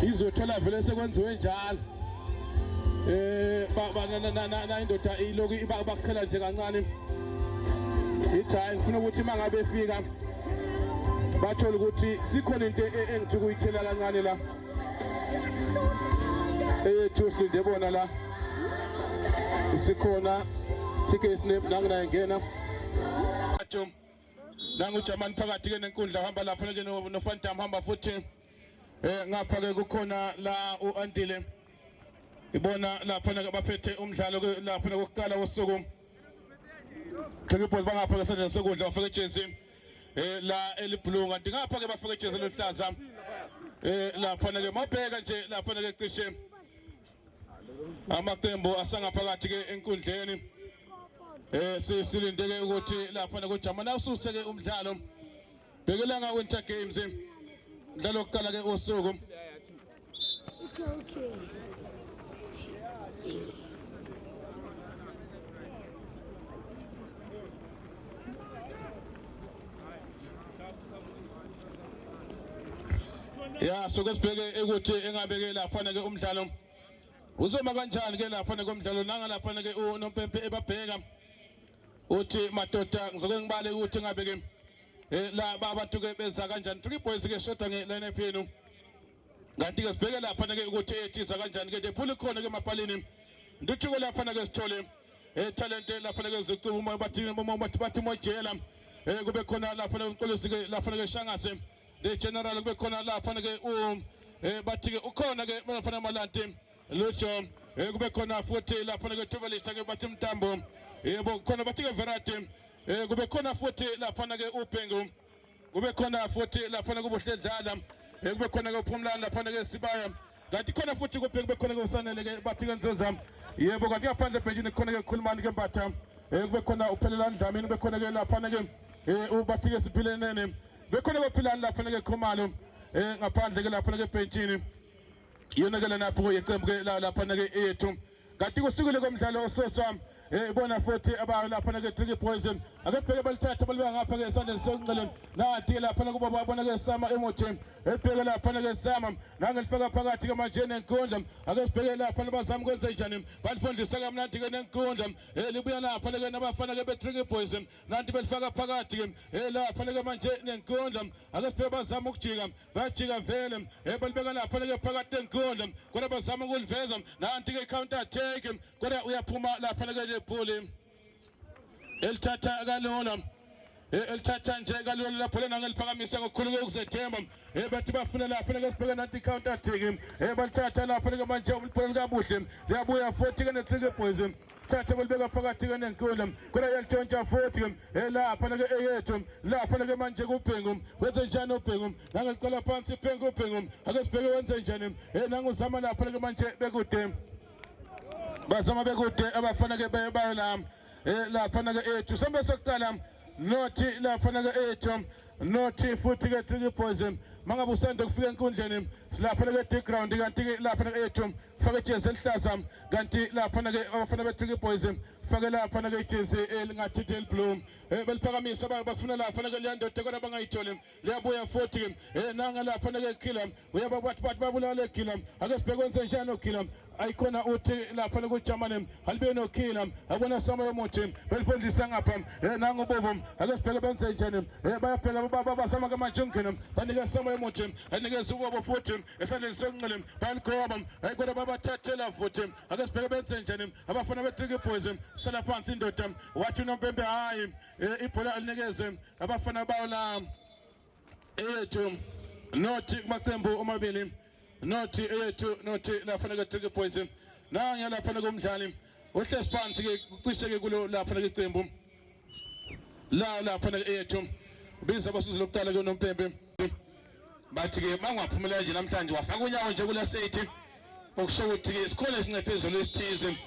izothola vele sekwenziwe njalo eh na indoda iloku ibaqhela nje kancane ithi hayi ngifuna ukuthi uma ngabe efika bathole ukuthi sikhona into e, e, engithi kuyithela kancane la eyethu silinde bona la isikhona thike isinep nanginaye ngena nangu German phakathi ke nenkundla hamba lapha ke noFantam hamba futhi Eh ngapha ke kukhona la uAntile ibona lapha na baphethe umdlalo lapha kokuqala wosuku Clipboard bangapha ke sendeni sokudla bafaka ejezi eh la eliblue kanti ngapha ke bafaka ejezi eluhlaza eh lapha ke mabheka nje lapha ke cishe amaqembu asangaphakathi ke enkundleni eh sisilindeke ukuthi lapha kujama la ususeke umdlalo Bhekelanga Winter Games mdlalo wokuqala ke usuku It's okay. ya soke sibheke ukuthi engabeke lapha ke umdlalo uzoma kanjani ke lapha komdlalo nanga lapha ke unompempe ebabheka uthi madoda ngizoke ngibale ukuthi ngabe ke eh, la abantu ke beza kanjani three boys ke sodwa nge lineup yenu kanti ke sibheke lapha ke ukuthi ethiza kanjani ke dephula khona ke mapalini ndithi ke lapha ke sithole eh talent lapha ke zicuba uma bathi uma bathi bathi mojela eh kube khona lapha ke umqolisi ke lapha ke shangase le general kube khona lapha ke u eh bathi ke ukhona ke mfana malante lusho eh, kube khona futhi laphana kwethuvelisa ke bathi mtambo yebo eh, khona bathi ke verati eh, kube khona futhi laphana ke ubhengu kube khona futhi laphana kubuhledlala kube khona ke uphumlani laphana ke sibaya kanti khona futhi kubheke kube khona ke usanele ke bathi ke nzoza yebo kanti ngaphandle ebhentshini khona ke khulumani ke mbatha kube khona uphelelani dlamini kube khona ke laphana ke ubathi ke siphilenene kube khona ke philani laphana ke khumalo ngaphandle ke laphana ke ebhentshini iyona ke lana pho yeqembu ke laphana ke eyethu kanti kusukile komdlalo ososwa eh, ibona futhi abayo laphana ke Tricky Boys ake sibheke balithatha balibeka ngapha ke esandleni sokunxele nathi ke laphana kuba babona ke Sama Emoji ebheke laphana ke Sama nangelifaka phakathi ke manje nenkundla ake sibheke laphana bazama ukwenza njani balifundisa kamnandi ke nenkundla elibuya eh, laphana ke nabafana ke be Tricky Boys kanti belifaka phakathi ke ela faneke manje nenkundla ake siphele bazama ukujika bajika vele ebelibeka lapha faneke phakathi nenkundla kodwa bazama ukuliveza nanti ke counter attack kodwa uyaphuma lapha faneke lebhuli elithatha kalona elithatha nje kalula lapho lena ngeliphakamisa ngokukhulu kokuzethemba bathi bafuna lapho leke sibheke nanti counter attack balithatha lapho leke manje uliphole likabuhle liyabuya futhi ke ne-trick boys thatha kulibeka phakathi ke nenkulu kodwa yalitshontsha futhi ke elapha nake eyethu lapha nake manje kubhengu wenze njani ubhengu nangeqala phansi ubhengu ubhengu ake sibheke wenze njani eh nanguzama lapha nake manje bekude bazama bekude abafana ke baye bayo la eh lapha nake ethu sambe sokuqala nothi lapha nake ethu nothi futhi ke tricky boys mangabe usanda kufika enkundleni silapha nake ground kanti lapha nake ethu faka ijezi elihlaza kanti laphana-ke abafana be-tricky boys fake laphana-ke ijezi elingathi del blue um eh, beliphakamisa bakufuna laphana-ke liyandoda kodwa bangayitholi liyabuya futhi um eh, nanga laphana-ke gila uyababathi bathi babulale gila ake sibheke kwenze njani ogila ayikhona uthi laphana kuJamane alibe nokhila akona sama yomuthi belifundisa ngapha eh nangu bovu ake sibheke benze njani eh bayaphela baba basama ke manje ungena banike sama yomuthi anikeza ubobo futhi esandleni sokunxele bayaligoba hayi kodwa babathathela futhi ake sibheke benze njani abafana be-tricky boys sala phansi indoda wathi unompempe hhayi e, ibhola alinikeze abafana bawo la eyethu nothi kumaqembu omabili nothi eyethu nothi lafana ke-tricky boys nangiyalaphana komdlali ohlesi phansi-ke kucishe-ke kulo laphana kecembu la la khona eyethu biza abasuzi lokuqala ke nompempe bathi ke mangwaphumela nje namhlanje wafaka unyawo nje kula sethi okusho ukuthi ke isikhona esincephezelo esithize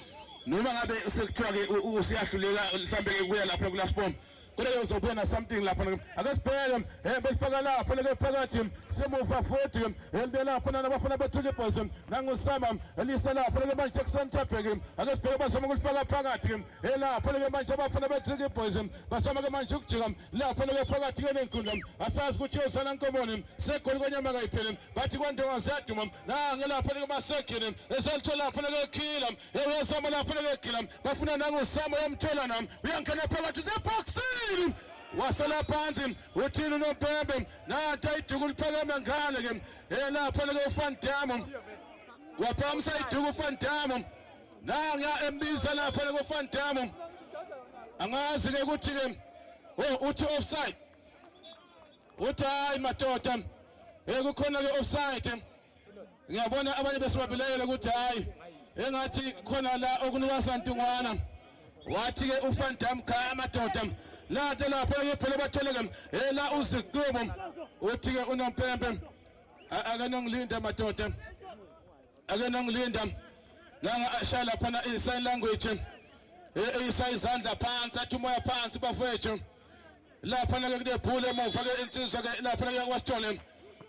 noma ngabe sekuthiwa ke usiyahluleka mhlambe ke kuya lapha kula form kodwa uzobona something lapha akasibheke eh besifaka lapha leke phakathi semuva futhi elibela lapha nabafuna bethuke ibhozi nangusama elisa lapha leke manje kusenthabheke akasibheke bazoma ukulifaka phakathi elapho leke manje abafana be-drinki boys basama ke manje ukujika lapho leke phakathi ke nenkundla asazi ukuthi yosana nkomoni segoli kwenyama kayiphele bathi kwantonga ziyaduma nange lapho leke masegile eselitho lapho leke khila eyosama lapho leke gila bafuna nangusama yamthola nam uyangena phakathi usebhoksini wasala phansi uthini unompembe nanti ayiduku liphakeme ngale ke elapho leke ufandamo waphamisa iduku ufandamo nanga embiza lapha lekuFan Damme angazi ke ukuthi ke oh uthi offside uthi hayi madoda ekukhona ke offside ngiyabona abanye besibabilayela ukuthi hayi engathi khona la okunuka santungwana wathi ke uFan Damme cha amadoda lade lapho ke phela bathole ke ela uziqubo uthi ke unompempe akanongilinde madoda ake nangilinda nangashaya laphana i-sign language eyisa izandla phansi athi umoya phansi bafowethu laphana-ke kunebhulu emuva-ke insizwa-ke laphana-ke yakwasithole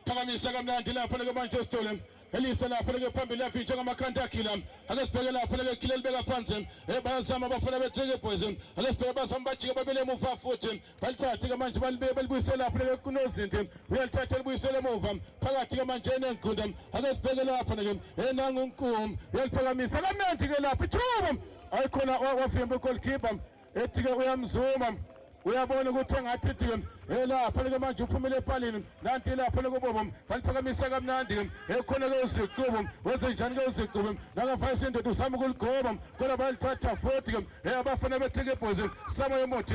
phakamisa kamnandi laphana-ke manje esithole elise lapho leke phambili yavinjwa ngamakhanda akhila ake sibheke lapho leke khila libeka phansi eh, bayazama abafana be-trigger boys ake sibheke bazama bajike babile emuva futhi balithathe-ke manje balibuyisela lapho-ke kunozinti uyalithatha libuyisele emuva phakathi-ke manje enengunda ake sibheke lapho-ke enangunkum uyaliphakamisa kamnandi-ke lapho ithuba ayikhona wavimba igolkipa ethi-ke uyamzuma uyabona ukuthi engathi ithi-ke elaphana-ke manje uphumile epalini nanti ilaphana kubobo baliphakamisa kamnandi-ke ekhona-ke uziqubo wenze njani-ke uziqubo nakavayisa indoda usama ukuligoba kodwa balithatha futhi-ke abafana bethi-ke ibhozi sama yomuthi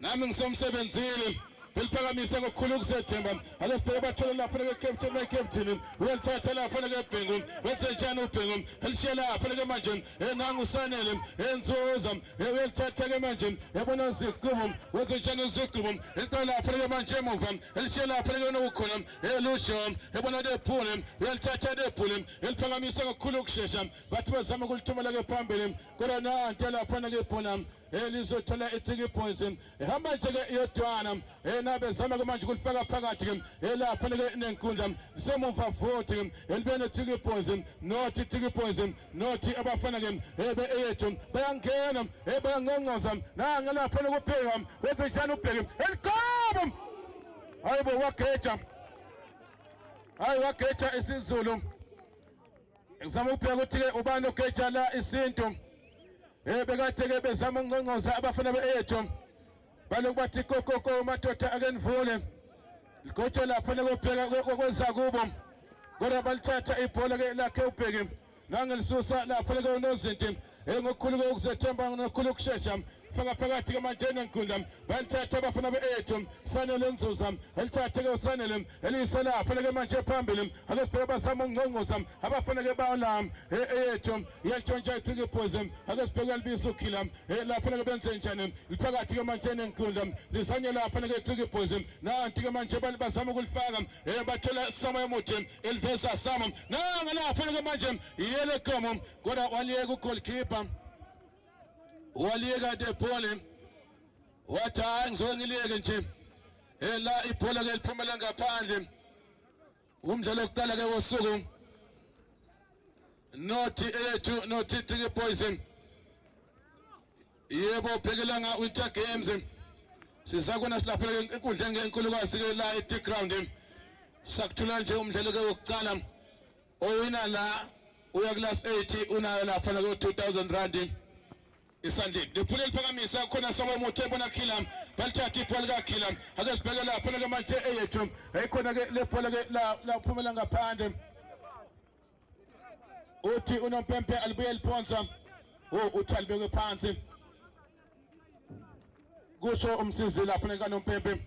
nami ngisemsebenzini ngiliphakamise ngokukhulu ukuzethemba ake sibheke abathole lapho nekekepteni nekepteni uyalithatha lapho nekebhengu wenze njani ubhengu elishiye lapho neke manje enangu usanele enzuza uyalithatha ke manje yabona zigqubu wenze njani zigqubu elishiye lapho neke manje emuva elishiye lapho neke nokukhona elusho yabona dephule uyalithatha dephule eliphakamisa ngokukhulu ukushesha bathi bazama ukulithumela ke phambili kodwa nanti lapho neke phona elizothola eh, i-tiki boys eh, ehamba nje-ke iyodwana eh, nabezama-ke manje ukulifaka phakathi-ke elapha nike nenkundla semuva futhi elibe ne-tiki boys nothi tiki boys nothi abafana-ke ebe eyethu bayangena bayangqongqoza nangelapha nokubheka wethi njani ubheke elikobo hayi bo wageja hayi wageja isizulu Ngizama ukubheka ukuthi-ke ubani ogeja la isintu um eh, bekade-ke bezama ukunconcoza abafana be-eyethu baloku bathi kokoko madoda ake nivule ligotsho lapho nekobheka kweza kubo kodwa balithatha ibhola-ke lakhe ubheki nangelisusa lapho leke unozinti ngokukhulu kokuzethemba nokukhulu ukushesha faka phakathi kamanjeni enkundla balithatha abafana be-ethu sanele nzuza elithathe-ke usanele eliyisela afaneke manje phambili akesibheke basama ungqongqoza abafaneke bala eyethu yantshontsha itrikiphuzi akesibheke alibisa ukhila lafaneke benze njani liphakathi kamanjeni enkundla lisanye lafaneke itrikiphuzi nanti-ke manje basama ukulifaka bathola sama emuthi eliveza sama nangalafaneke manje yelekomo Kodwa waliyeka ugoalkeeper waliyeka Depole wathi hayi ngizoke ngiliyeke nje ela ibhola ke liphumela ngaphandle umdlalo wokuqala ke wosuku nothi eyethu nothi Tiki Boys yebo phekela nga Winter Games sizakuna silaphela enkundleni ngenkulukazi ke la eTig Ground sakuthola nje umdlalo ke wokuqala owina la uya class 8 unayo lapha nayo 2000 rand isandile liphule liphakamisa khona sabo muthe bona khila balithatha ibhola ka khila ake sibheke lapha ke manje eyethu ayikhona ke lebhola ke la laphumela ngaphandle uthi unompempe alibuye liphonsa o oh, uthi alibeke phansi kusho umsizi lapha nekanompepe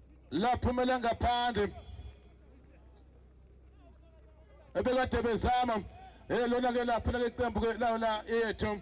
laphumela ngaphandle ebekade bezama eh lona ke lapho lake qembu ke lawo la yethu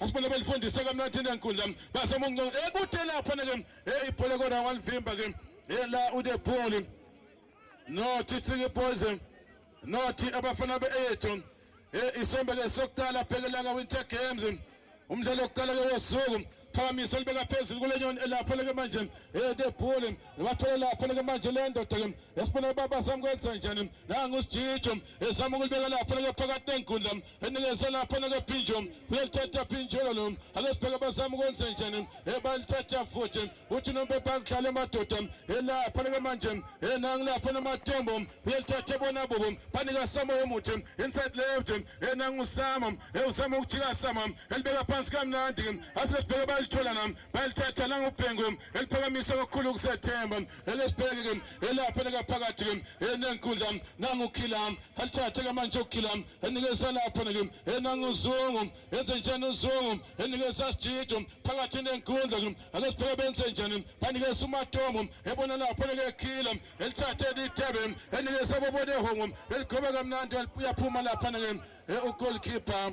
asibona belifundisa kamnandi nenkundla basema unconco ekude eh, lapho ke eh, ibhola kodwa walivimba ke eh, la ude ball no tithingi boys no thi abafana beethu isombe ke sokuqala phekela ka winter games umdlalo wokuqala ke wosuku phakamisa libeka phezulu kule nyoni elapho leke manje eh debhule bathole lapho leke manje le ndoda ke esibona baba samkwenza njani nangu sijijo ezama ukulibeka lapho leke phakathi nenkundla enikeze lapho nakaphinjo uyalithatha phinjolo lo ake sibheke abazama ukwenze njani ebalithatha futhi uthi noma bebangidlala emadoda elapha nike manje enangilapha namatombo uyalithatha bona bobo banika sama omuthi inside left enangusama ewusama ukujika sama elibeka phansi kamnandi asike sibheke balithola nam balithatha langubhengu eliphakamisa kakhulu ukusethemba eke sibheke-ke elapha nikaphakathi enenkundla nangukhila alithathe kamanje ukukhila enikeza lapho nike enanga uzungu enze njani uzungu enikeza sijijo phakathi nenkundla ake sipheke benze njani banikeza umatomo ebona lapho nike khila elithathe litebe enikeza bobone hongo eligobe kamnandi uyaphuma lapha nike ugoalkeeper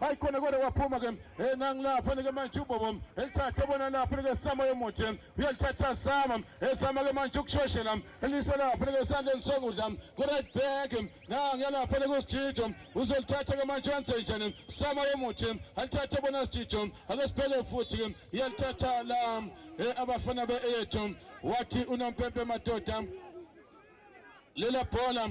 hayi khona kodwa kwaphuma ke hey nangilapha nike manje ubobo elithathe bona lapha nike sama yomuthi uyalithatha sama esama ke manje ukushoshela elise lapha nike sandleni sokudla ku right back nangiya lapha nike usijijo uzolithatha ke manje wenze njani sama yomuthi alithathe bona sijijo ake sibheke futhi ke iyalithatha la eh, abafana be eyethu wathi unompempe madoda lela bhola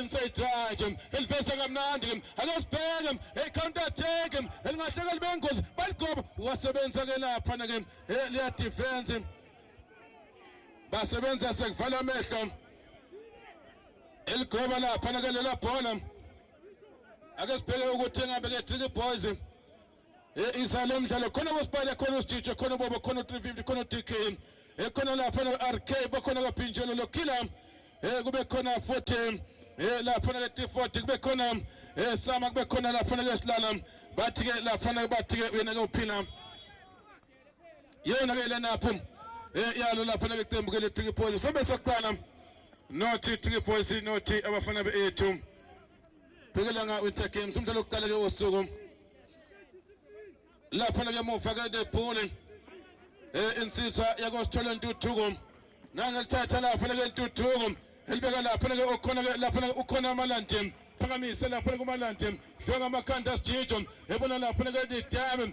inside drive elivesa kamnandi ake sibheke hey counter attack elingahleka libe ngozi baligoba wasebenza ke lapha na ke eh, liya defense basebenza sekuvala amehlo eligoba lapha na ke lela bhola ake sibheke ukuthi ngabe ke trick boys Isa lo mdlalo khona boSpire khona uStitch khona uBobo khona u350 khona uDK ekhona lapha noRK bakhona kaPhinjelo loKhila eh kube khona futhi eh lapha ke T40 kube khona eh Sama kube khona lapha ke Silala bathi ke lapha ke bathi ke yena ke uphina yena ke lena phu eh yalo lapha ke iqembu ke le3 points sobe sokuqala nothi 3 points nothi abafana be 8 Bhekelanga Winter Games umdlalo wokuqala ke wosuku. Lapha ke muva ke the bowling. Eh insizwa yakosithola intuthuko. Nangelithatha lapha ke intuthuko. Elibeka lapha ke okhona ke lapha ke ukhona amalandi. Phakamise lapha kumalandi. Dlonga amakhanda sijijo. Ebona lapha ke the dam.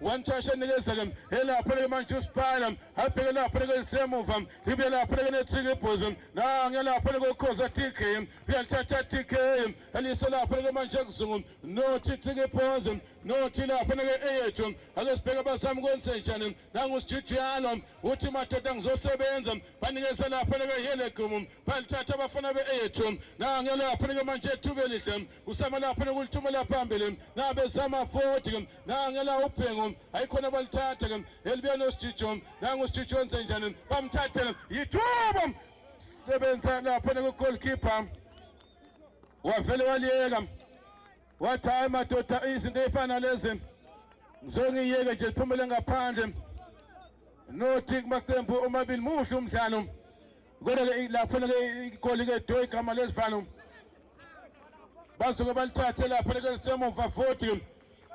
wanthasha nikezeke elapho leke manje usiphala abheke lapho leke lisemuva libuye lapho leke netrikibhuzo nange lapho leke ukhoza tk uyalithatha tk elise lapho leke manje kuzungu nothi trikibhuzo nothi lapho leke eyethu ake sibheke abasami kwenzenjani nangusijidiyalo uthi madoda ngizosebenza banikeze lapho leke yelegumu balithatha abafana be-eyethu nange lapho leke manje ethuba elihle usama lapha nokulithuma laphambili nabezama futhi ke nangela ubhengo ayikhona balithatha ke elibuya nosijijo nangosijijo wenze njani bamthathele yithuba sebenza lapha nokugoalkeeper wavele waliyeka wathi hayi madoda izinto ey'fana lezi ngizongiyeke nje liphumele ngaphandle nothi kumaqembu omabili muhle umdlalo kodwa ke laphana ke igoli ke do igama lesivalo bazoke balithathe laphana ke semuva futhi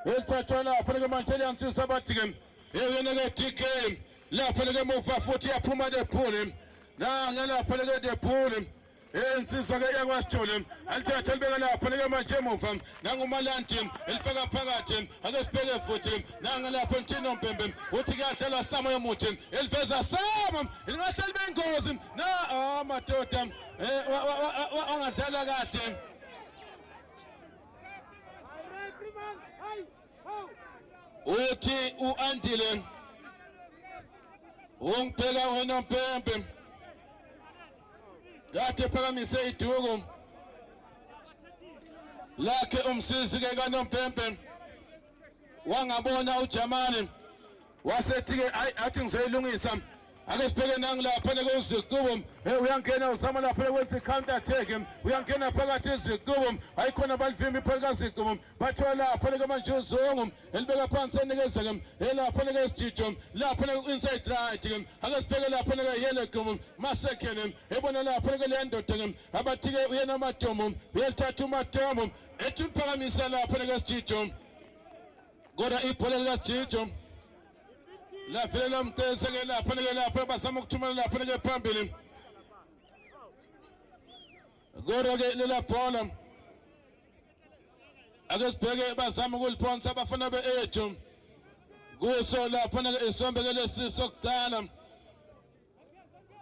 elithathwa laphana ke manje liyansisa abathi ke yena ke DK laphana ke muva futhi yaphuma lephule nange laphana ke lephule insizwa ke yakwasithole alithathe libeka lapho leke manje emuva nangumalandi elifaka phakathi ake sibheke futhi nanga lapho ntino mpembe uthi kuyahlelwa samo yomuthi eliveza samo lingahle libe ingozi na ah, madoda eh, angadlala kahle uthi u-andile ungibheka ngonompempe kade phakamise iduku lakhe umsizi ke kanompempe wangabona ujamane wasethi-ke ayi athi ngizoyilungisa ake sibheke nangilapha nekwezikubo hey uyangena uzama lapha kwenza i-counter attack uyangena phakathi ezikubo ayikhona balivimba ipholi kazikubo bathola lapha neke manje uzungu elibeka phansi enikezeke elapha neke isijijo lapha neke inside right ake sibheke lapha neke yele kubo masekhele ebona lapha neke le ndoda ke abathike uyena amatomo uyalithatha umatomo ethi uliphakamisa lapha neke isijijo kodwa ibhola likajijo lafile lo mtese ke lapho nike lapho basama ukuthumela lapho nike phambili kodwa ke lela bhola ake sibheke bazama ukuliphonsa abafana be-ethu kuso lapho nike isombe ke lesi sokudala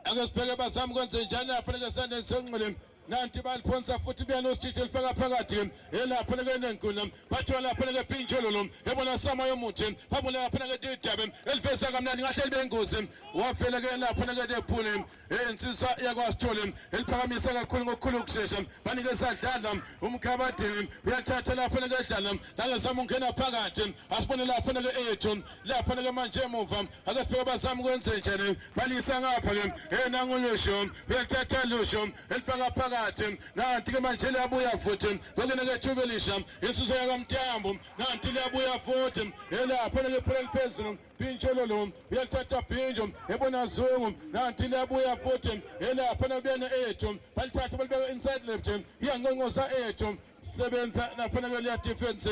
ake sibheke bazama ukwenze njani afaneke esandleni senxele nanti baliphonsa futhi beyanositshitshi elifaka phakathi elapha nekenenkuna bathiwa lapha nekepintshololo ebona sama yomuthi babona lapha neketidabe eliveza kamnandi ngahle libengozi wavele ke lapha neketephule insizwa yakwasithole eliphakamisa kakhulu ngokukhulu ukushesha banike sadlala umkhabadini uyathatha lapha nekedlala nangesama ungena phakathi asibone lapha neke ethu lapha neke manje emuva ake sibheke bazama ukwenze njani balisa ngapha ke hey nangulusho uyalithatha lusho elifaka phakathi nanti ke manje liyabuya futhi kokene ke thuba elisha insuzo yakamtyambo nanti liyabuya futhi elapha ke phela liphezulu phintsho lolu uyalithatha phintsho ebona zungu nanti liyabuya futhi elapha nakubuyena ethu balithatha balibeka inside left iyanqonqosa ethu sebenza lapha ke liya defense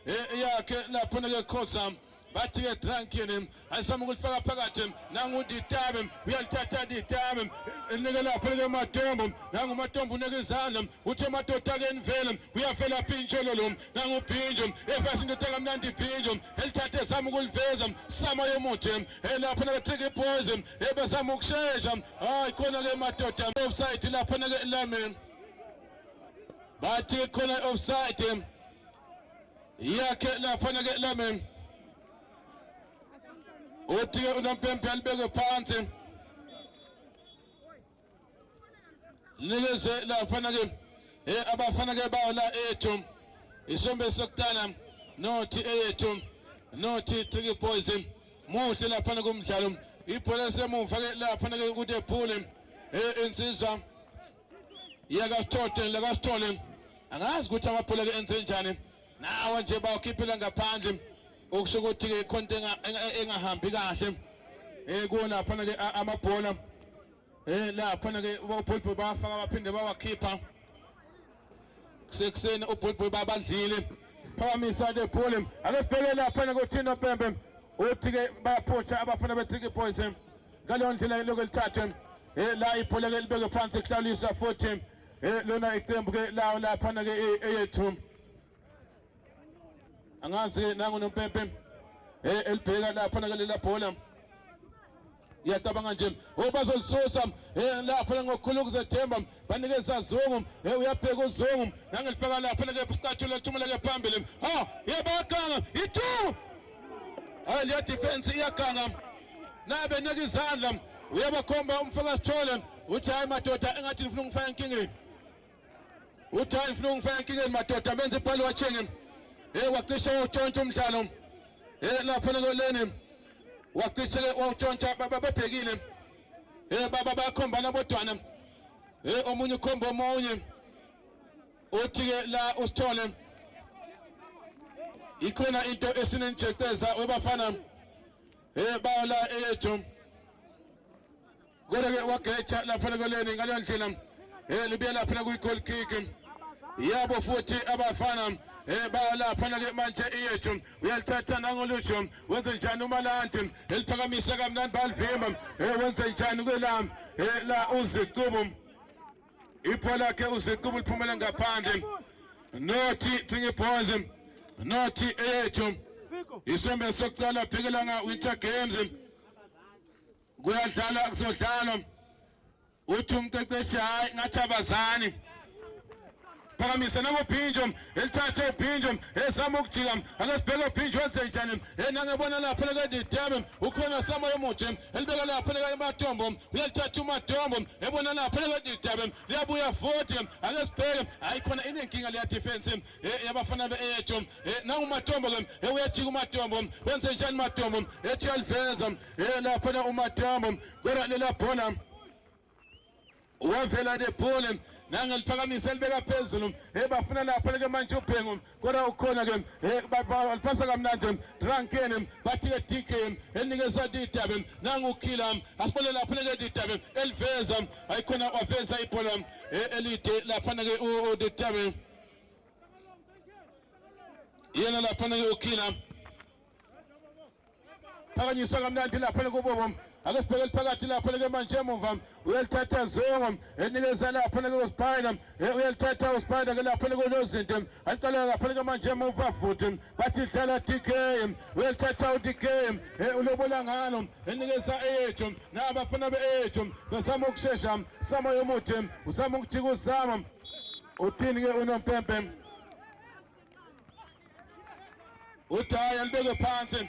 eh, yakhe lapho nake khoza bathi ke drankini ayisama ukulifaka phakathi nangu ditabe uyalithatha ditabe nike lapho ke matombo nangu matombo unike izandla uthe madoda ke nivele uyavela phinjolo lo nangu phinjo efasi indoda kamnandi phinjo elithathe sama ukuliveza sama yomuthi elapho ke tricky boys ebesama ukushesha hayi khona ke madoda offside lapho ke lami bathi khona offside yakhe laphana ke lamen uthi ke unompempe alibeke phansi nikeze laphana ke eh abafana ke bawo la ethu isombe sokutana nothi eyethu nothi Tricky Boys muhle laphana kumdlalo ibhola semuva ke laphana ke kude phule eh insizwa yeka sithole leka sithole angazi ukuthi abaphuleke enzenjani nawo nje bawukhiphile ngaphandle okusho ukuthi ke ikhonto engahambi kahle eh kona phana ke amabhola eh la phana ke ubulbul bafaka baphinde bawakhipha kusekuseni ubulbul babadlile phakamisa le bhola ake sibheke la phana kuthina Pembe uthi ke bayaphutha abafana be Tricky Boys ngaleyo ndlela lokho lithathwe eh, la ibhola ke libeke phansi kuhlawulisa futhi eh, lona iqembu ke lawo laphana ke eh, eyethu angazi ke nangu nompempe eh elibheka laphana ke lela bhola ngiyacabanga nje obazolisusa eh, laphana ngokukhulu ukuzethemba banikeza zungu hey uyabheka uzungu nangilifaka lapha leke isikhathi lethumela ke phambili ha yebakanga itu hayi le defense iyaganga nabe neke izandla uyabakhomba umfaka sithole uthi hayi madoda engathi ngifuna ukufaka inkingeni uthi hayi ngifuna ukufaka inkingeni madoda benze ibhalo wachenge hey wacisha utshontsha umdlalo hey lapha leni wacisha wawutshontsha babhekile Eh baba bayakhombana bodwana. Eh omunye ukhomba omunye. Uthi ke la usithole. Ikhona into esinenjecteza webafana. Eh bayo la eyethu. Kodwa ke wageja lapha lekoleni ngaleyo ndlela. Eh libuye lapha kuyi goal kick. Yabo futhi abafana eh bayo lapha ke manje eyethu. uyalithatha nangolusho wenze njani umalandi eliphakamisa kamnandi balivimba eh, wenze njani kwelami eh, la uziqubu ipho lakhe uziqubu liphumele ngaphandle nothi thingibhoze nothi eyethu isombe sokuqala bhekelanga winter games kuyadlala kuzodlalwa uthi umqeqeshi hayi ngathi abazani phakamisa nangophinjo elithathe uphinjo ezama ukujika ake sibheke uphinjo wenze njani enangebona lapho lekendidebe ukhona samoya omuhle elibeka lapho lekematombo uyalithatha umatombo ebona lapho lekendidebe liyabuya futhi ake sibheke hayi khona inenkinga leya defense eh yabafana be eyethu eh nangu matombo ke eh uyajika umatombo wenze njani matombo eh Chelvenza eh lapha na umatombo kodwa lela bhola wavela de bhola nange liphakamise elibeka phezulu hey bafuna lapho leke manje ubhengu kodwa ukhona ke hey balipasa kamnandi drankeni bathi ke DK elinikeza didabe nangu ukhila asibone lapho leke didabe eliveza ayikhona waveza ibhola elide lapha ke udidabe yena laphana yokhila phakanyiswa kamnandi laphana kubobo ake sibheke liphakathi laphana ke manje emumva uyalithatha zongo enikeza laphana ke uspina uyalithatha uspina ke laphana kunozinto alicala laphana ke manje emumva futhi bathi dlala dk uyalithatha udk ulobola ngalo enikeza eyethu nabafana be-eyethu bezama ukushesha sama yomuthi uzama ukujika uzama Uthini ke unompempe? Udaya libeke phansi.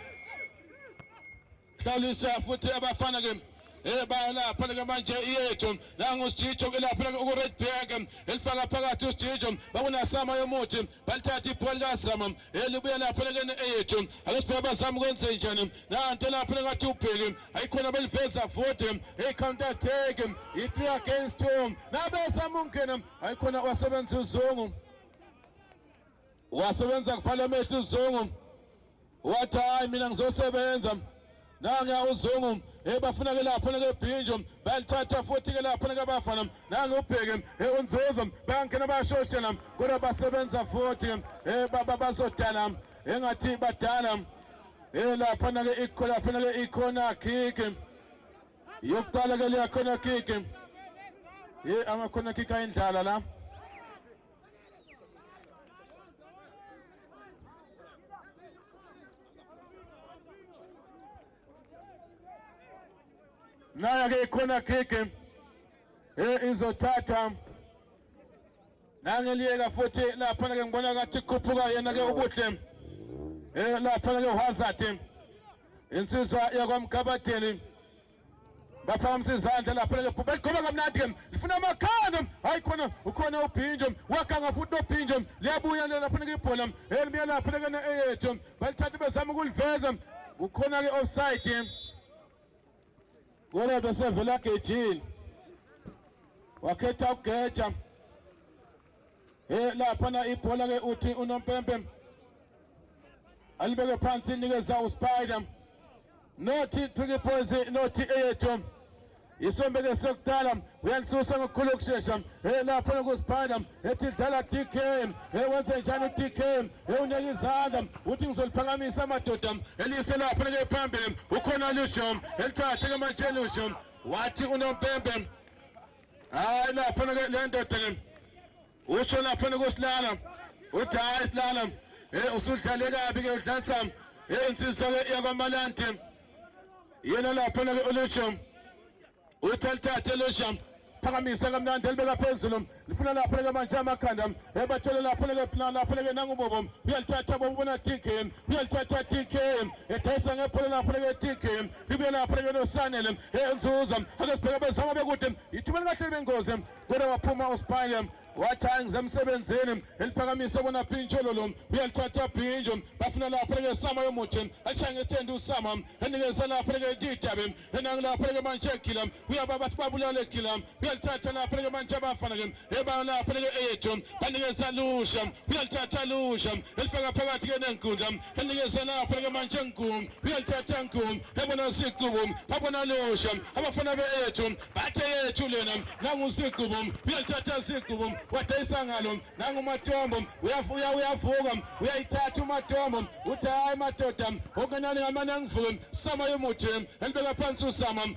Hlalisa futhi abafana ke ebaya lapha lika manje iyethu nangu usijijo ke lapha lika uku-redberg elifaka phakathi usijijo bakunasama yomuthi balithatha ibhola likasama elibuya lapho lekene eyethu ake sibheke bazama ukwenza njani nanto lapho lengathi ubheke ayikhona beliveza vote hey counter attack i3 against 2 nabezama ukungena ayikhona wasebenza uzungu wasebenza kuphala amehlo uzungu wathi hayi mina ngizosebenza nange uzungu ebafuna ke lapho ke bhinjo balithatha futhi ke lapho ke bafana nange ubheke unzuzo bangena bashoshela kodwa basebenza futhi eh baba bazodala engathi badala eh lapho ke ikho lapho ke ikhona kick yokuqala ke liyakhona kick eh amakhona kick ayindlala la nayo ke ikhona kick eh izothatha nangeliyeka futhi laphana ke ngibona kathi khuphuka yena ke ubuhle eh laphana ke uhazard insizwa yakwamgabadeli baphakamisa izandla lapho lelo bhubha likhoma kamnandi ke lifuna amakhanda hayi khona ukhona ubhinjo wakhanga futhi nobhinjo liyabuya lapho nike ibhola elibuya lapho lekena eyethu balithatha bezama ukuliveza kukhona-ke offside kodwa besevela gejini wakhetha ukugeja Eh laphana ibhola ke uthi unompempe alibeke phansi nikeza uSpider nothi Tricky Boys nothi eyethu isombeke sokudala uyalisusa ngokukhulu ukushesha eh laphana kuSpider ethi dlala DK eh wenze njani uDK eh uneke izandla uthi ngizoliphakamisa amadoda elise lapha ke phambili ukhona Lujom elithathe ke manje Lujom wathi unompempe hayi lapha le ndoda ke usho lapha kusilala uthi hayi silala hey usudlale kabi ke udlalisa hey insizwa ke yakwamalandi yena lapha ke ulusho uthi alithathe lusho phakamisa kamnandi elibeka phezulu lifuna lapho leke manje amakhanda ebathole lapho leke plan lapho leke nangubobo uyalithatha bobo bona tk uyalithatha tk edayisa ngebhola lapho leke tk libuye lapha lelo sanele enzuza ake sibheke bezama bekude ithumele kahle libengozi kodwa waphuma uspile wathayi ngisemsebenzini eliphakamisa bona phintsholo lo uyalithatha phintsho bafuna lapho leke sama yomuthi alishaye ngesithende usama enikeza lapho leke didabe enangilapho leke manje egila uyaba bathi babulale egila uyalithatha lapho leke manje abafana ke ebala phanike eyethu banikeza lusha uyalithatha lusha elifaka phakathi ke nenkundla enikeza la phanike manje nkum uyalithatha nkum ebona sigubu abona lusha abafana beyethu bathe yethu lena nangu sigubu uyalithatha sigubu wadayisa ngalo nangu matombo uyavuya uyavuka uyayithatha umatombo uthi hayi madoda okunani ngamane angivuke sama yomuthi elibeka phansi usama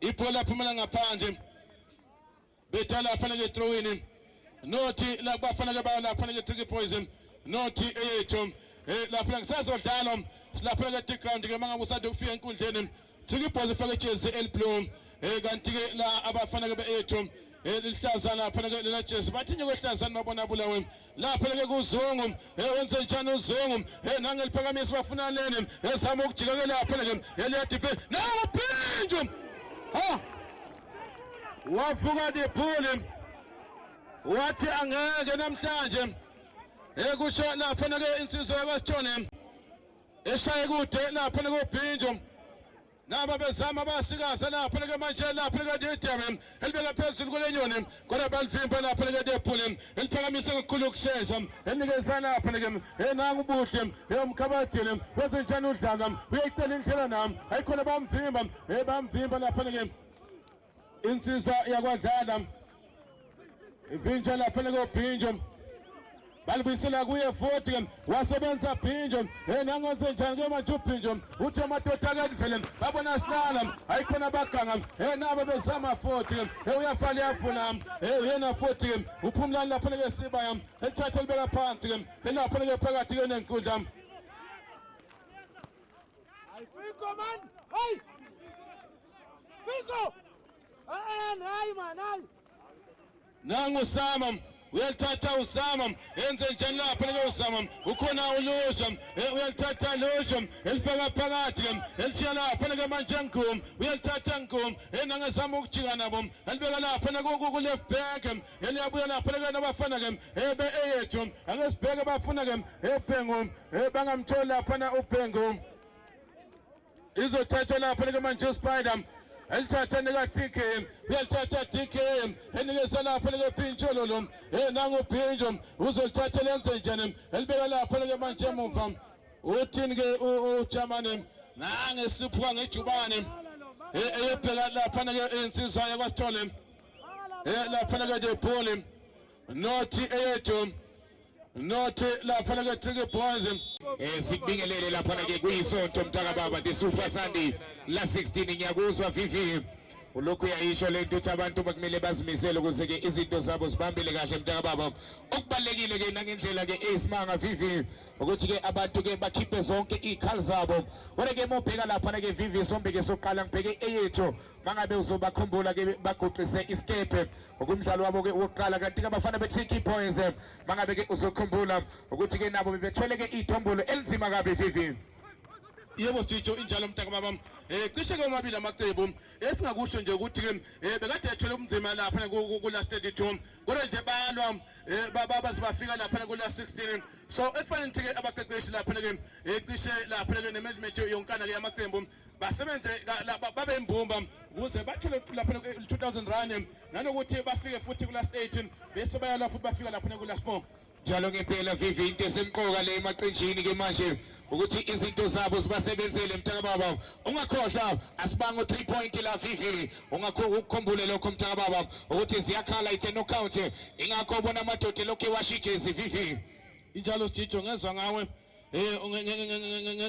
Ibhola laphumela ngaphandle. Bedala afanele throw in. Nothi la bafanele bayo la fanele tricky poison. Nothi eyethu eh lapha ngisazodlala silapha ke deep ground ke mangabe usade ukufika enkundleni thika ibhola ifake ijezi eliblue eh kanti ke la abafana ke beethu eh lihlazana phana ke lena jezi bathinye kwehlazana babona bulawe lapho leke kuzungu ewenze njani uzungu enangeliphakamisa bafuna lene ezama ukujika ke lapho leke eliyadife nawo phinjo ha wavuka diphuli wathi angeke namhlanje ekusho lapho nake insizwa yabasithone eshaye kude lapho nakubhinjo naba bezama basikaze lapho lika manje lapho lika Didem elibeka phezulu kulenyoni kodwa balivimba lapho lika Depule eliphakamisa kakhulu ukushesha enikeza lapho lika enangu buhle eyomkhabadile wenze njani udlala uyayicela indlela nam ayikhona bamvimba ebamvimba lapho lika insizwa yakwadlala ivinjwa lapha nekobhinjwa balibuyisela kuye futhi ke wasebenza phinjo yena angenze njani ke manje uphinjo uthi amadoda akanivele babona silala ayikhona abaganga yena abebezama futhi ke uyafala yafuna yena futhi ke uphumlani lapho ke siba yam elithatha libeka phansi ke lapho ke phakathi ke nenkundla ayifiko man hey Fiko! Eh, nayi man, nayi. Nangu Sama uyalithatha usama enze njani lapha lelo usama ukhona ulusha eh, uyalithatha lusha elifaka phakathi elishiya lapha leke manje ngum uyalithatha ngum enangezama eh, ukujika nabo elibeka lapha naku left back eh, eliyabuya lapha leke nabafana ke ebe eyethu ake sibheke bafuna ke ebhengu bangamtholi lapha na ubhengu izothathwa lapha likamanju spider elithatha nika-dk uyalithatha dk enikeza lapha likephintsho lolo e nanguphintsho uzolithatha lenze njani elibeka lapha likemanje emuva uthini-ke ujamane nangesiphuka ngejubane eyobheka laphana-ke insizwa yakwasithole laphana-ke debholi nothi eyethu Nothi lapha na ke Tricky Boys. Eh sikubingelele lapha na ke kuyisonto mntaka baba the Super Sunday la 16 ngiyakuzwa Vivi. Ulokhu uyayisho lento ukuthi abantu bakumele bazimisele ukuze ke izinto zabo zibambele kahle mntaka baba. Okubalekile ke nangendlela ke esimanga Vivi ukuthi ke abantu ke bakhiphe zonke izikhali zabo. Kodwa ke mobheka lapha na ke Vivi sombe ke soqala ngibheke eyethu mangabe uzobakhumbula ke baguqise isikebhe ngokumdlalo wabo ke wokuqala kanti ke abafana be-tiki points eh, mangabe ke uzokhumbula ukuthi ke nabo bebethwele ke iy'thombolo elinzima kabi vivi yebo sitho injalo mntaka baba um eh, cishe ke omabili amacebo esingakusho nje ukuthi-ke um eh, bekade ethwele ubunzima laphana ku-last 32 kodwa nje balwa um eh, babaze bafika laphana ku-last 16 so ekufanele ukuthi-ke abaqeqeshi laphana-ke um cishe laphana-ke ne-management yonkana-ke yamacembu basebenze babe imbumba ukuze bathole lapha 2000 rand nanokuthi bafike futhi kula 18 bese bayala futhi bafika lapha kula 4 njalo ngempela vivi into esemqoka le emaqenjini ke manje ukuthi izinto zabo zibasebenzele mntaka baba ungakhohlwa asibanga u3 point la vivi ungakukhumbule lokho mntaka baba ukuthi ziyakhala ithe no count ingakho bona amadoda lokho ewashijezi vivi injalo sijijo ngezwa ngawe eh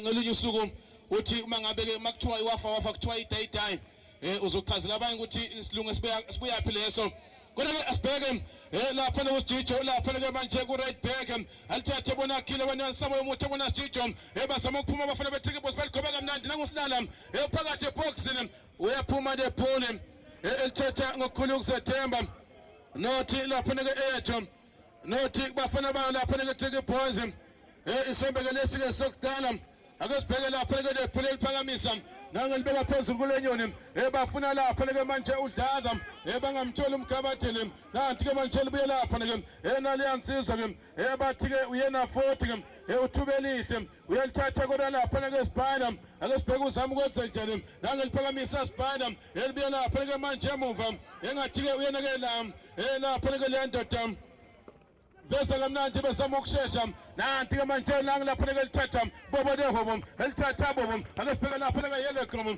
ngelinye usuku uthi uma ngabe ke makuthiwa iwafa wafa kuthiwa idayidayi eh uzochazela abanye ukuthi isilungu sibuyaphi leso kodwa ke asibheke eh lapha lo sijijo lapha ke manje ku right back alithathe bona khile wena sabo yomuthi bona sijijo eh basama ukuphuma abafana bethike boss baligobeka kamnandi nangusilala eh phakathi eboxini uyaphuma le phone eh elithatha ngokukhulu ukuzethemba nothi lapha ke eyethu nothi bafana bana lapha neketheke phansi um eh, isombekele esike sokudala ake sibheke lapha leke lephule liphakamisa nangelibeka phezulu kule nyoni um eh, bafuna lapha leke manje udlaza um eh, bangamtholi umkhabathini um kanti-ke manje libuye lapha leke um naleya nsizwa-ke um bathi-ke uyena foti-ke um uthubelihle uyalithatha kodwa lapha nake sibhana ake sibheke uzama ukwenza njani nange liphakamisa sibhana elibuye lapha nake manje emuva engathi-ke uyena ke la eh, lapha nake le ndoda veza kamnandi besama ukushesha nanti-ke manje nange lapha nake lithatha bobo nehobo elithatha bobo ake sibheke lapha nake yellow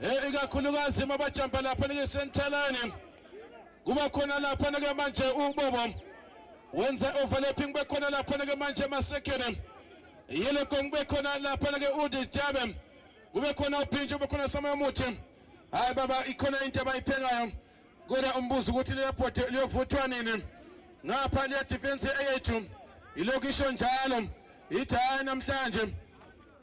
Eh ikakhulukazi mabajamba lapha nikesentalane. Kuba khona lapha nike manje ubobo. Wenza overlapping bekhona lapha nike manje masekene. Yele kongbe khona lapha nike udijabe. Kube khona uphintsho bekhona sama muthi. Hayi baba ikhona into abayiphengayo. Kodwa umbuzo ukuthi leyaphote liyovuthwa nini? Ngapha liya defense eyethu. Ilokisho njalo. Ithaya namhlanje.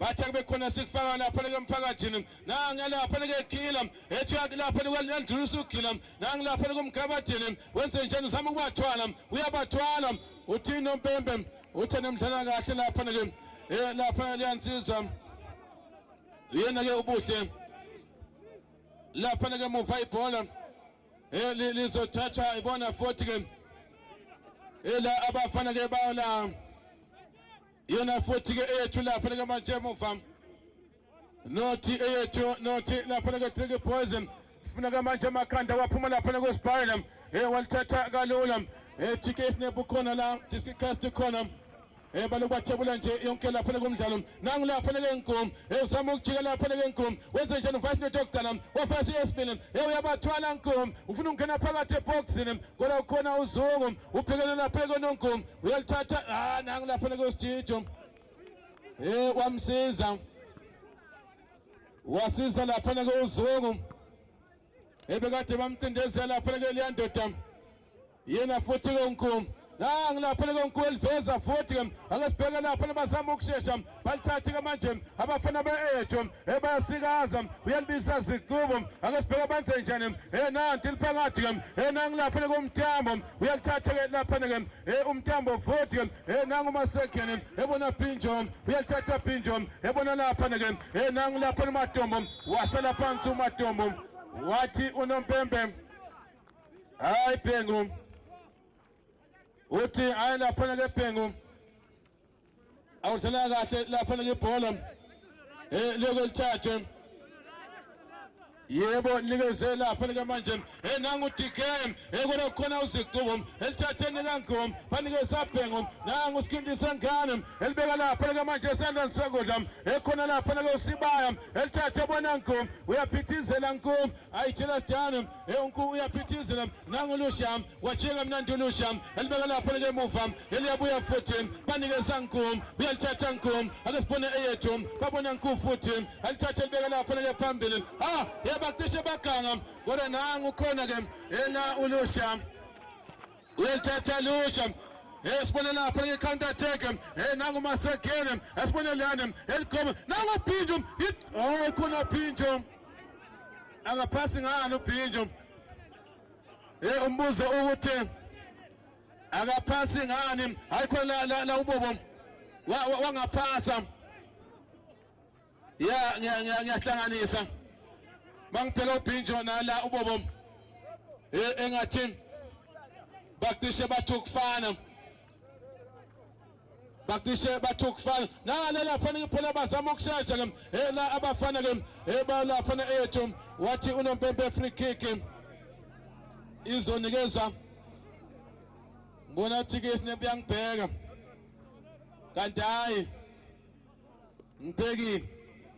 bathi kube khona sikufaka lapha leke mphakathini nangilapha leke gila ethi yakilapha lendlulisa ugila nangilapha leke umgabadini wenze njani uzama ukubathwala uyabathwala uthini nompembe uthe nemdlala kahle lapha leke eh lapha liyansiza yena ke ubuhle lapha leke muva ibhola eh lizothathwa ibona futhi ke ela abafana ke bala iyona futhi-ke eyethu lapha likamanje emuva nothi eyethu nothi lapha liketriki poison funa kamanje amakhanda waphuma lapha nakwesibhayela um eh, walithatha kalula um eh, jike isinebhu khona la diskicast khona Eh baloku bathebula nje yonke lapha lekumdlalo. Nangu lapha lekengumu. Eh usama ukujika lapha lekengumu. Wenze njani uvice note yokudala. Wafasi esibili. Eh uyabathwala ngumu. Ufuna ukungena phakathi eboxini. Kodwa ukhona uzungu. Uphekele lapha lekonongumu. uyalithatha ah nangu lapha le kwesijijo hey kwamsiza wasiza lapha ke uzungu ebekade bamcindezela lapha ke liyandoda yena futhi ke unkulu nangu lapha ke unkulu eliveza futhi ke angasibheka lapha bazama ukushesha balithathe ke manje abafana be-ejo ebayasikaza uyalibisa zikubo ake sibheke abenze njani enanti liphakathi ke enangilapha ke umtambo uyalithatha ke lapha ke umtambo futhi enangu masekene ebona phinjo uyalithatha phinjo ebona lapha ke enangu lapha umatombo wasala phansi umatombo wathi unompembe hayi bhengu uthi ayi lapha ke bhengu awudlala kahle lapha ngebhola eh loko lithathe yebo nikeze lapha lika manje eh nangu DK eh kona khona uziqubo elithatheni kangom banikeza bhengo nangu sikindisa ngane elibeka lapha lika manje sandani sokudla ekhona eh, lapha lako sibaya elithathe bona ngom uyaphithizela ngom ayitshela sidana eh unku uyaphithizela nangu lusham wathenga mnandi ulusha elibeka lapho likemuva eliyabuya futhi banikeza nkum uyalithatha nkum ake sibone eyethu babona nkum futhi alithatha elibeka lapho like phambili ha yabacishe baganga kodwa nangu khona ke ena ulusha uyalithatha lusha esibone lapho like counter attack eh nangu masegene esibone lana eligoma nangu phinjo oh khona phinjo angaphasi ngani uphinjo Hey umbuzo ukuthi akaphasi ngani ayikho la la, la ubobo wangaphasa wa, wa ya ngiyahlanganisa ngiya, ngiya mangibheka ubhinjo nala ubobo e, engathi bacishe bathi ukufana bacishe bathi ukufana nale laphana phela bazama ukushesha ke ela abafana ke ebalaphana ethu wathi unompempe free kick izonikezwa ngibona ukuthi ke sinempi yangibheka kanti hayi Mteki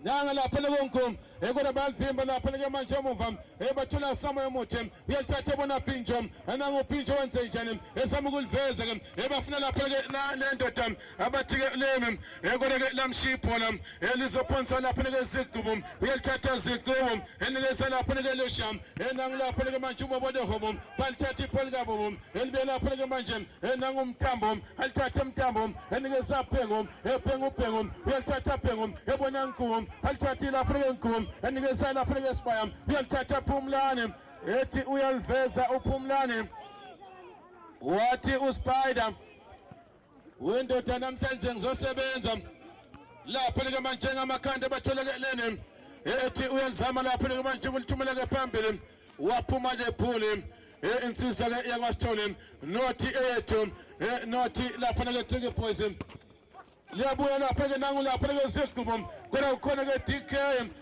nanga lapha lekonkum ekona balivimba lapha leke manje emuva ebathola usamoya omuhle uyalithatha bona pinjo ananga upinjo wenze njani esama ukuliveza ke ebafuna lapha ke le ndoda abathi ke lemi ekona ke lamshiya ibhola elizophonsa lapha ke zigqubu uyalithatha zigqubu enikeza lapha ke lesham enanga lapha ke manje ubobodohobo balithatha ibhola kabobo elibe lapho leke manje enanga umthambo alithathe umthambo enike saphengo ephenga ubhengo uyalithatha phengo ebona ngigum alithathe lapho leke ngigum enike salapho leke sibaya uyalithatha phumlane ethi uyaliveza uphumlane wathi uspider Wendoda namhlanje ngizosebenza lapho likamanje ngamakhanda abathelekelene ethi uyenzama lapho likamanje kulithumeleke phambili waphuma lephuli insizwa ke yakwaSithole nothi eyethu nothi lapho nake Tricky Boys liyabuya lapha ke nangu lapha ke sigqubo kodwa ukhona ke DK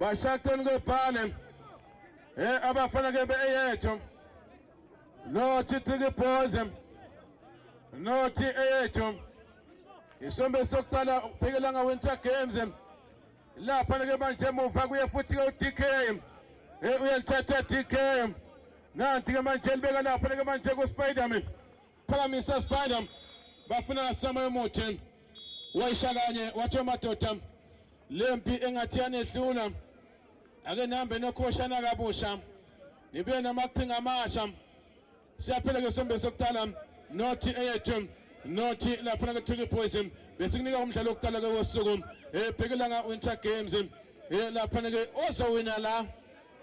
Bashaqeni kwephane. Eh abafana ke beyethu. No Chitiki Boys. No TAH. Isombe sokuqala uphikelela Winter Games. Lapha ke manje emuva kuye futhi ke uDK. Eh uyalithatha DK. Nanti ke manje libeka lapha ke manje ku Spiderman. Phakamisa Spider bafuna sama emuthi wayisha kanye wathi madoda lempi engathi yanehlula ake nihambe nokhoshana kabusha nibuye namaqhinga amasha siyaphela ke sombe sokuqala nothi eyethu nothi laphana kuthiwa iboys besikunika umdlalo wokuqala ke wosuku ebhekelanga eh, winter games eh, laphana ke ozowina la